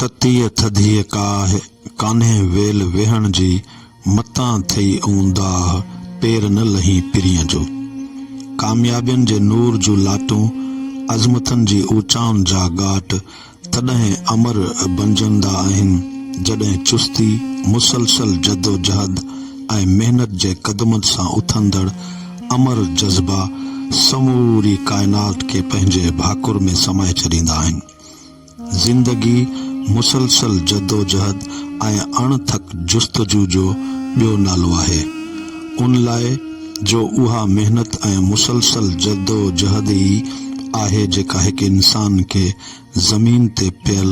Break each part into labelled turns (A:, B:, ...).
A: تتيء ٿڌيء ڪاهه ڪانهي ويل ويهڻ جي، متان ٿئي اون داهه پير نه لهي پرينء جو. ڪاميابين جي نور جون لاٽون، عظمتن جي اوچائن جا ڳاٽ تڏهن امر بنجندا آهن، جڏهن چستي، مسلسل جدوجهد ۽ محنت جي قدمن سان اٿندڙ امر جذبا سموري ڪائنات کي پنهنجي ڀاڪر ۾ سمائي ڇڏيندا آهن. زندگي مسلسل جدوجهد ۽ اڻ ٿڪ جستجو جو ٻيو نالو آهي. ان لاء جو اها محنت ۽ مسلسل جدوجهد ئي آهي جيڪا هڪ انسان کي زمين تي پيل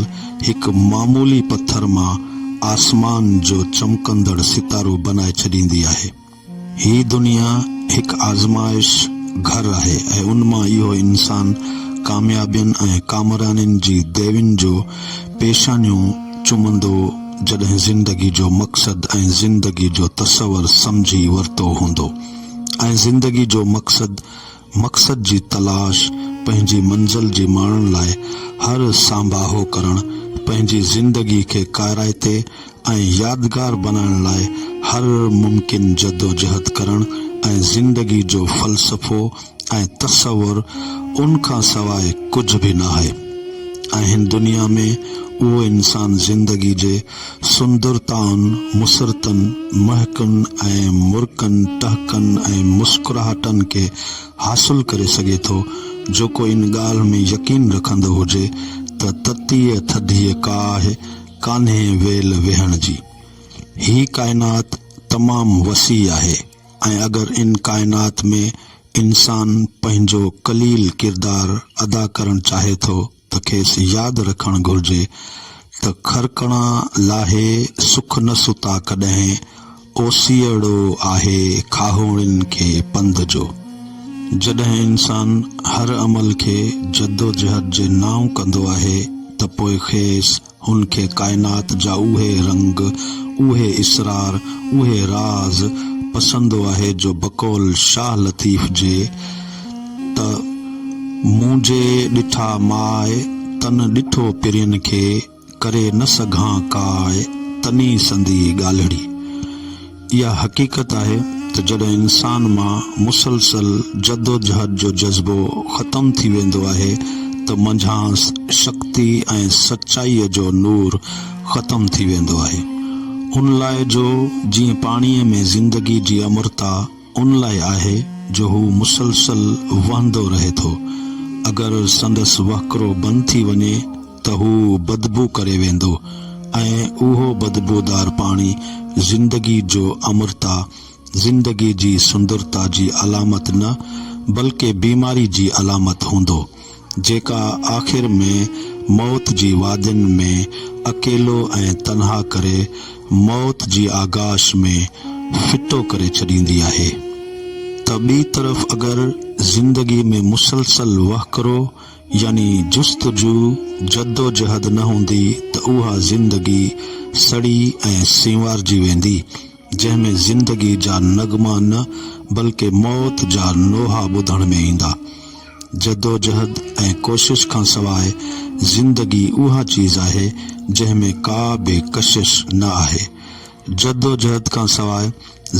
A: هڪ معمولي پٿر مان آسمان جو چمڪندڙ ستارو بنائي ڇڏيندي آهي. هي دنيا هڪ آزمائش گهر آهي ۽ ان مان اهو انسان ڪاميابين ۽ ڪامرانين جي ديوين جو پيشانيون چمندو جڏهن زندگي جو مقصد ۽ زندگي جو تصور سمجهي ورتو هوندو ۽ زندگي جو مقصد مقصد جي تلاش، پنهنجي منزل جي ماڻڻ لاء هر سانباهو ڪرڻ، پنهنجي زندگي کي ڪارائتي ۽ يادگار بنائڻ لاء هر ممڪن جدوجهد ڪرڻ ۽ زندگي جو فلسفو ۽ تصور ان کان سواء ڪجهه به ناهي. اهن دنيا ۾ اهو انسان زندگي جي سندرتائن، مسرتن، مهڪن ۽ مرڪن، ٽهڪن ۽ مسڪراهٽن کي حاصل ڪري سگهي ٿو. جيڪو ان ڳالهه ۾ يقين رکندو هجي ته تتيء ٿڌيء ڪاهه ڪانهي ويل ويهڻ جي. هي ڪائنات تمام وسيع آهي ۽ اگر ان ڪائنات ۾ انسان پنهنجو قليل ڪردار ادا ڪرڻ چاهي ٿو ته کيس ياد رکڻ گهرجي ته خرڪڻا لاهي سک نه ستا ڪڏهن اوسيئڙو آهي کاهوڙين کي پنڌ جو. جڏهن انسان هر عمل کي جدوجهد جي نانء ڪندو آهي ته پوء کيس هن کي ڪائنات جا اهي رنگ، اهي اسرار، اهي راز پسند آهي جو بقول شاهه لطيف جي ته، مون جي ڏٺا ماء، تن ڏٺو پرين کي، ڪري نه سگهان ڪاء، تني سندي ڳالهڙي. اها حقيقت آهي ته جڏهن انسان مان مسلسل جدوجهد جو جذبو ختم ٿي ويندو آهي ته منجهانس شڪتي ۽ سچائيء جو نور ختم ٿي ويندو آهي. ان لاء جو جيئن پاڻيء ۾ زندگي جي امرتا ان لاء آهي جو هو مسلسل وهندو رهي ٿو، اگر سندس وهڪرو بند ٿي وڃي، ته هو بدبو ڪري ويندو ۽ اهو بدبودار پاڻي زندگي جو امرتا، زندگي جي سندرتا جي علامت نه بلڪه بيماري جي علامت هوندو، جيڪا آخر ۾ موت جي وادين ۾ اڪيلو ۽ تنها ڪري موت جي آغاش ۾ ڦٽو ڪري ڇڏيندي آهي. ته ٻي طرف اگر زندگي ۾ مسلسل وهڪرو، يعني جستجو، جدوجهد نه هوندي ته اها زندگي سڙي ۽ سينوارجي ويندي، جنهن ۾ زندگي جا نغما نه بلڪه موت جا نوحا ٻڌڻ ۾ ايندا. جدوجهد ۽ ڪوشش کان سواء زندگي اها چيز آهي، جنهن ۾ ڪا به ڪشش نه آهي. جدوجهد کان سواء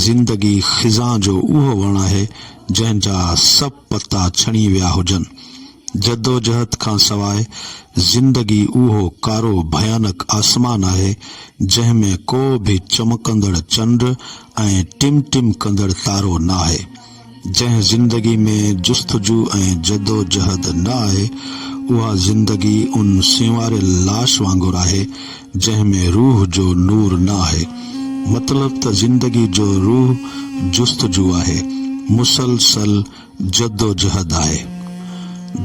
A: زندگي خزان جو اهو وڻ آهي، جنهن جا سڀ. پتا ڇڻي ويا هجن. جدوجهد کان سواء زندگي اهو ڪارو ڀيانڪ آسمان آهي، جنهن ۾ ڪو به چمڪندڙ چنڊ ۽ ٽم ٽم ڪندڙ تارو ناهي. جنهن زندگي ۾ جستجو ۽ جدوجهد نه آهي، اها زندگي ان سينواريل لاش وانگر آهي، جنهن ۾ روح جو نور نه آهي. مطلب ته زندگي جو روح جستجو آهي، مسلسل جدوجهد آهي.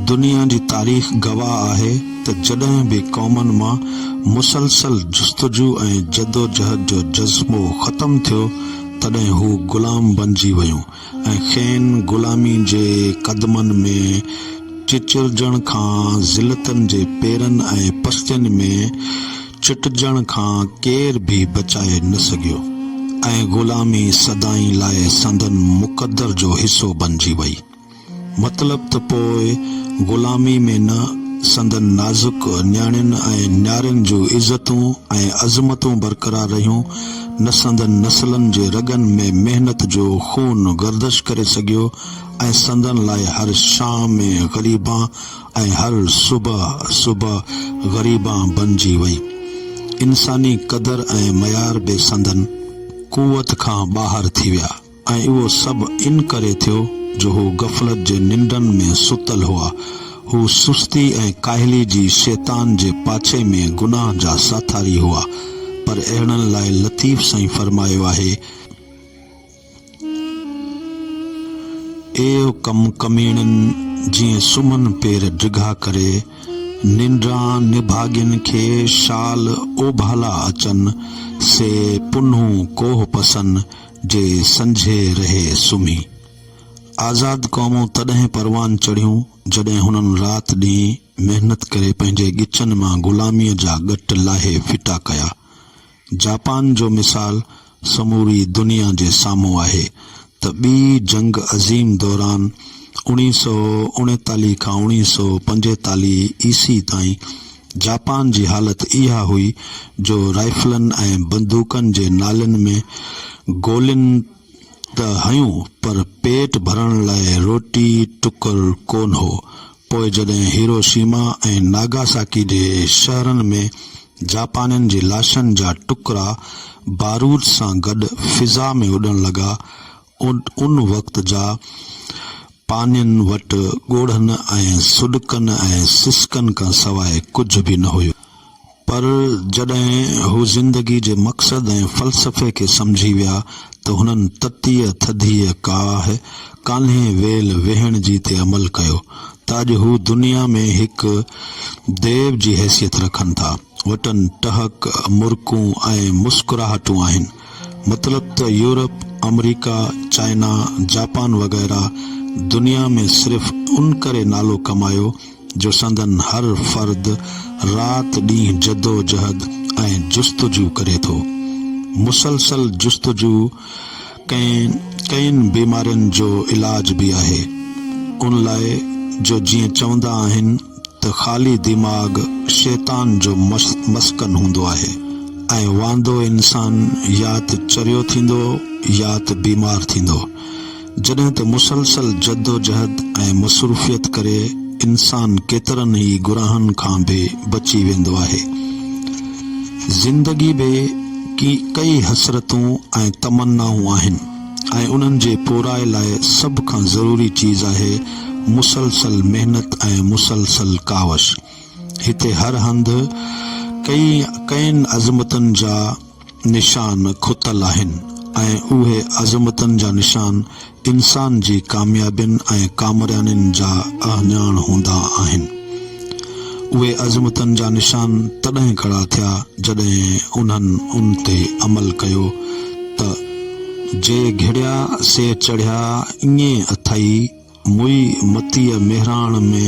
A: دنيا جي تاريخ گواهه آهي ته جڏهن به قومن مان مسلسل جستجو ۽ جدوجهد جو جذبو ختم ٿيو، تڏهن هو غلام بنجي ويون. ۽ کين غلامي جي قدمن ۾ چچرجڻ کان، ذلتن جي پيرن ۽ پستين ۾ چٽجڻ کان ڪير به بچائي نه سگهيو ۽ غلامي سدائين لاء سندن مقدر جو حصو بنجي وئي. مطلب ته پوء غلامي ۾ نه سندن نازڪ نياڻين ۽ نيارين جون عزتون ۽ عظمتون برقرار رهيون، نه سندن نسلن جي رڳن ۾ محنت جو خون گردش ڪري سگهيو ۽ سندن لاء هر شام غريبان ۽ هر صبح صبح غريبان بنجي وئي. انساني قدر ۽ معيار به سندن قوت کان ٻاهر ٿي ويا. ۽ اهو سڀ ان ڪري ٿيو جو هو غفلت جي ننڊن ۾ ستل هئا. هو سستي ۽ ڪاهلي جي شيطان جي پاڇي ۾ گناهه جا ساٿاري هئا. پر اهڙن لاء لطيف سائين فرمايو آهي، ايو ڪم ڪميڻين جيئن سمهن پير ڊگها ڪري، ننڊران نڀاڳين کي شال اوڀالا اچن، سي پنهون ڪوهه پسن، جي سنجهي رهي سمهي. آزاد قومون تڏهن پروان چڙهيون، جڏهن هنن رات ڏينهن محنت ڪري پنهنجي ڳچن مان غلاميء جا ڳٽ لاهي ڦٽا ڪيا. جاپان جو مثال سموري دنيا جي سامهون آهي ته ٻي جنگ عظيم دوران اوڻيهه سؤ اڻيتاليهه کان اوڻيهه سؤ پنجيتاليهه عيسي تائين جاپان جي حالت اها هئي جو رائفلن ۽ بندوقن جي نالين ۾ گولين ته هيون پر پيٽ ڀرڻ لاء روٽي ٽڪر ڪونه هو. پوء جڏهن هيروشيما ۽ ناگاساڪي جي شهرن ۾ جاپانين جي لاشن جا ٽڪرا بارود سان گڏ فضا ۾ اڏڻ لڳا، ان وقت جا پانين وٽ ڳوڙهن ۽ سڏڪن ۽ سسڪن کان سواء ڪجهه به نه هيو. پر جڏهن هو زندگي جي مقصد ۽ فلسفي کي سمجهي ويا ته هنن تتيء ٿڌيء ڪاهه ڪانهي ويل ويهڻ جي تي عمل ڪيو ته اڄ هو دنيا ۾ هڪ ديو جي حيثيت رکن ٿا. وٽن ٽهڪ، مرڪون ۽ مسڪراهٽون آهن. مطلب ته يورپ، آمريڪا، چائنا، جاپان وغيره دنيا ۾ صرف ان ڪري نالو ڪمايو جو سندن هر فرد رات ڏينهن جدوجهد ۽ جستجو ڪري ٿو. مسلسل جستجو ڪئين ڪئين بيمارين جو علاج به آهي. ان لاء جو جيئن چوندا آهن. ته خالي دماغ شيطان جو مسڪن هوندو آهي ۽ واندو انسان يا ته چريو ٿيندو يا ته بيمار ٿيندو. جڏهن ته مسلسل جدوجهد ۽ مصروفيت ڪري انسان ڪيترن ئي گناهن کان به بچي ويندو آهي. زندگي به ڪي ڪئي حسرتون ۽ تمنائون آهن. ۽ انهن جي پورائي لاء سڀ کان ضروري چيز آهي مسلسل محنت ۽ مسلسل ڪاوش. هتي هر هنڌ ڪئي ڪئين عظمتن جا نشان کتل آهن ۽ اهي عظمتن جا نشان انسان جي ڪاميابين ۽ ڪامرانين جا اهڃاڻ هوندا آهن. اهي عظمتن جا نشان تڏهن کڙا ٿيا جڏهن انهن ان تي عمل ڪيو ته، جي گهڙيا سي چڙهيا ائين اٿئي موئي متيء مهراڻ ۾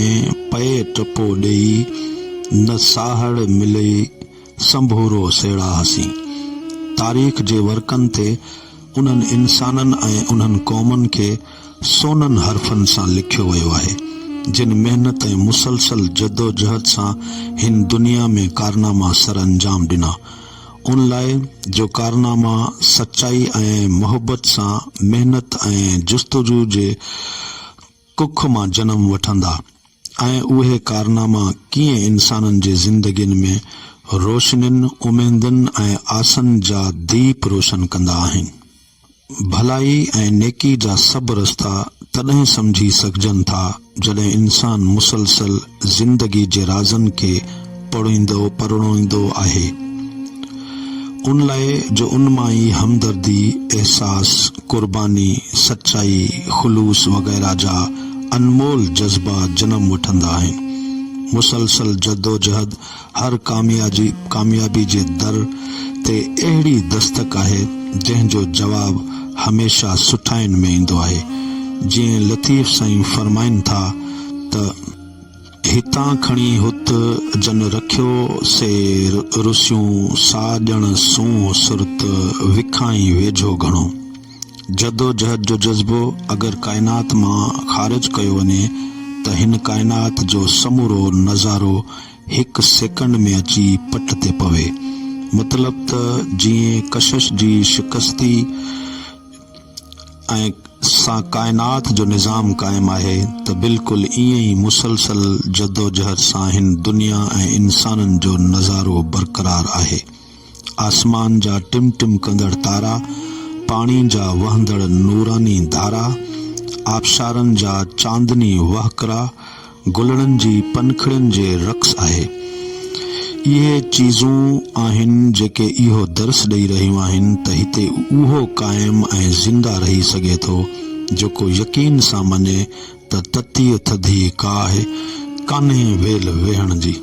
A: پئي ٽپو ڏيئي نه ساهڙ ملئي سنڀورو سيڙاهسين. تاريخ جي ورقن تي انهن انسانن ۽ انهن قومن کي سونن حرفن سان لکيو ويو آهي، جن محنت ۽ مسلسل جدوجهد سان هن دنيا ۾ ڪارناما سر انجام ڏنا، ان لاء جو ڪارناما سچائي ۽ محبت سان محنت ۽ جستجو جي ڪک مان جنم وٺندا ۽ اهي ڪارناما ڪيئن انسانن جي زندگين ۾ روشنين، اميدن ۽ آسن جا ديپ روشن ڪندا آهن. ڀلائي ۽ نيڪي جا سڀ رستا تڏهن سمجهي سگهجن ٿا جڏهن انسان مسلسل زندگي جي رازن کي پڙهيندو پرڻوئيندو آهي ان لاء جو ان مان ئي همدردي، احساس، قرباني، سچائي، خلوص وغيره جا انمول جذبا جنم وٺندا آهن. مسلسل جدوجهد هر ڪاميابي جي در تي اهڙي دستڪ آهي، جنهن جو جواب هميشه سٺاين ۾ ايندو آهي. جيئن لطيف سائين فرمائن ٿا ته. هتان کڻي هت جن رکيو سي رسيون سا ڄڻ سونهن سرت وکائين ويجهو گهڻو. جدوجهد جو جذبو اگر ڪائنات مان خارج ڪيو وڃي ته هن ڪائنات جو سمورو نظارو هڪ سيڪنڊ ۾ اچي پٽ تي پوي. مطلب ته جيئن ڪشش جي شڪستي ۽ سان ڪائنات جو نظام قائم آهي ته بلڪل ايئن ئي مسلسل جدوجهد سان هن دنيا ۽ انسانن جو نظارو برقرار آهي. آسمان جا ٽم ٽم ڪندڙ تارا، پاڻي جا وهندڙ نوراني ڌارا، آبشارن جا چاندني وهڪرا، گلڙن جي پنکڙين جي رقص آهي. اهي چيزون آهن جيڪي اهو درس ڏئي رهيون آهن ته هتي اهو قائم ۽ زنده رهي سگهي ٿو جيڪو يقين سان مڃي ته تتيء ٿڌيء ڪاهه ڪانهي ويل ويهڻ جي.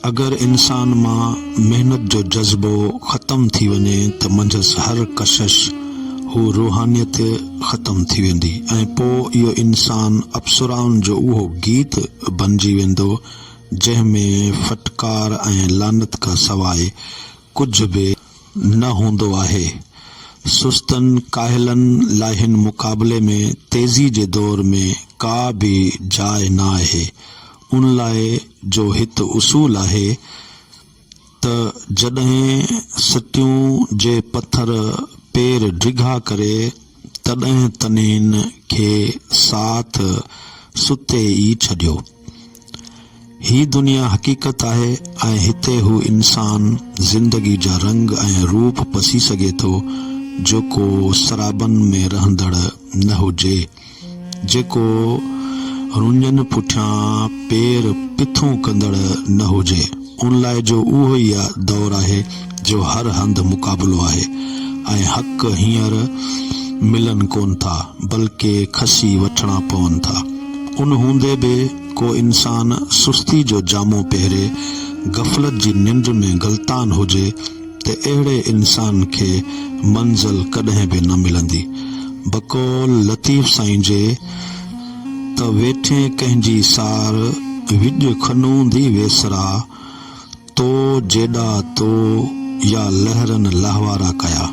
A: اگر انسان مان محنت جو جذبو ختم ٿي وڃي ته منجهس هر ڪشش هو روحانيت ختم ٿي ويندي ۽ پوء اهو انسان اپسرائن جو اهو گيت بنجي ويندو جنهن ۾ ڦٽڪار ۽ لعنت کان سواء ڪجهه به نه هوندو آهي. سستن ڪاهلن لاء هن مقابلي ۾ تيزي جي دور ۾ ڪا به جاء نه آهي. ان لاء جو هت اصول آهي ته جڏهن سٽيون جي پٿر پير ڊگها ڪري تڏهن تنين کي ساٿ ستي ئي ڇڏيو. هي دنيا حقيقت آهي ۽ هتي هو انسان زندگي جا رنگ ۽ روپ پسي سگهي ٿو جيڪو سرابن ۾ رهندڙ نه هجي، جيڪو رڃن پٺيان پير پٿون ڪندڙ نه هجي. ان لاء جو اهو ئي دور آهي جو هر هنڌ مقابلو آهي ۽ حق هينئر ملن ڪون ٿا بلڪه کسي وٺڻا پون ٿا. ان هوندي به ڪو انسان سستي جو جامو پهري غفلت جي ننڊ ۾ غلطان هجي ته اهڙي انسان کي منزل ڪڏهن به نه ملندي. بقول لطيف سائين جي. ته ويٺين ڪنهن جي سار، وڄ کنوندي ويسرا، تو جيڏا تو يا لهرن لهوارا ڪيا.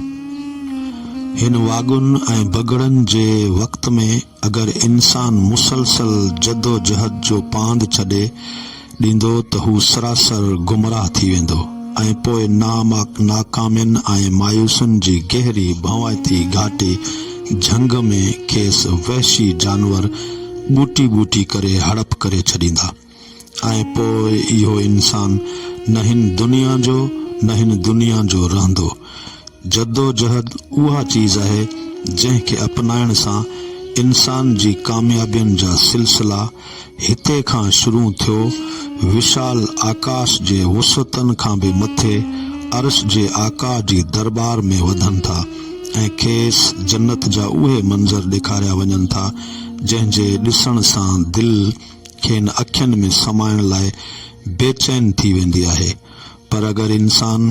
A: هن واڳن ۽ بگهڙن جي وقت ۾ اگر انسان مسلسل جدوجهد جو پاند ڇڏي، ڏيندو ته هو سراسر گمراهه ٿي ويندو ۽ پوء ناڪامين ۽ مايوسين جي گهري ڀوائتي گهاٽي جهنگ ۾ کيس وحشي جانور ٻوٽي ٻوٽي ڪري هڙپ ڪري ڇڏيندا ۽ پوء اهو انسان نه هن دنيا جو نه هن دنيا جو رهندو. جدوجهد اها چيز آهي جنهن کي اپنائڻ سان انسان جي ڪاميابين جا سلسلا هتي کان شروع ٿيو وشال آڪاش جي وسعتن کان به مٿي عرش جي آقا جي درٻار ۾ وڌن ٿا ۽ کيس جنت جا اهي منظر ڏيکاريا وڃن ٿا جنهن جي ڏسڻ سان دل کين اکين ۾ سمائڻ لاء بيچين ٿي ويندي آهي پر اگر انسان